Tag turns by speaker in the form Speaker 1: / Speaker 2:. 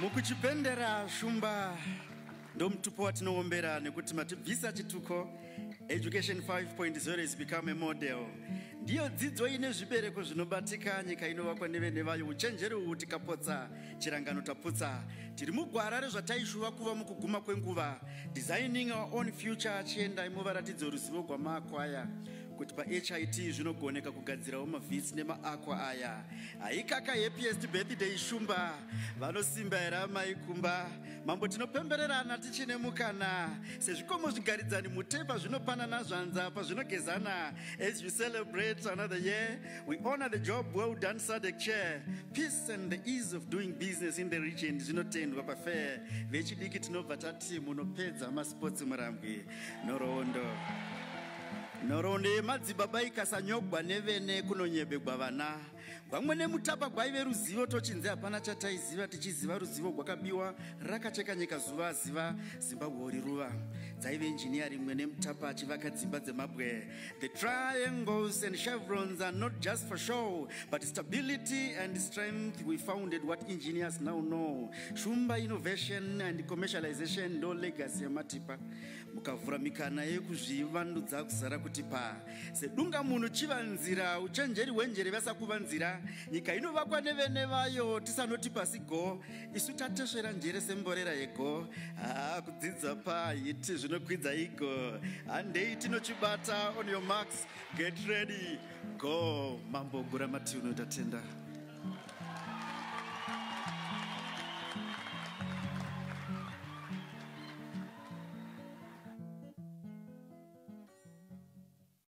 Speaker 1: mukuchipendera shumba ndomutupo watinoombera nekuti matibvisa chituko education 5.0 is become a model ndiyo dzidzo ine zvibereko zvinobatika nyika inovakwa nevene vayo uchenjeri uhu tikapotsa chirangano taputsa tiri mugwara rezvataishuva kuva mukuguma kwenguva designing our own future chiendai muvaratidzo ruzivo gwamakwaya kuti pahit zvinogoneka kugadzirawo mavhisi nemaakwa aya haikaka happiest birthday shumba vanosimba here amai kumba mambo tinopembererana tichine mukana sezvikomo zvigaridzani mutepa zvinopanana zvanza pazvinogezana as you celebrate another year we honor the job well done sadec chair peace and the ease of doing business in the region zvinotendwa pafair vechidiki tinobva tati munopedza masports murambwi nhoroondo nhoroondo yemadzibaba ikasanyogwa nevene kunonyebegwa vana gwamwe nemutapa gwaive ruzivo tochinzi hapana chataiziva tichiziva ruzivo gwakabiwa rakacheka nyika zuva aziva zimbabwe ori ruva dzaive injiniya rimwe nemutapa achivaka dzimba dzemabwe The triangles and chevrons are not just for show, but stability and strength. We founded what engineers now know. Shumba innovation and commercialization ndo legacy yamatipa. Mukavhura mikana yekuzvivandudza kuzara kuti pa. Sedunga munhu chiva nzira, uchenjeri hwenjere vasa kuva nzira. Nyika inovakwa nevene vayo, tisanoti pasi go. isu tatesvera njere semborera yego haa kudzidza pahiti zvinokwidza iko handei tinochibata on your marks get ready go mambo gura matiuno tatenda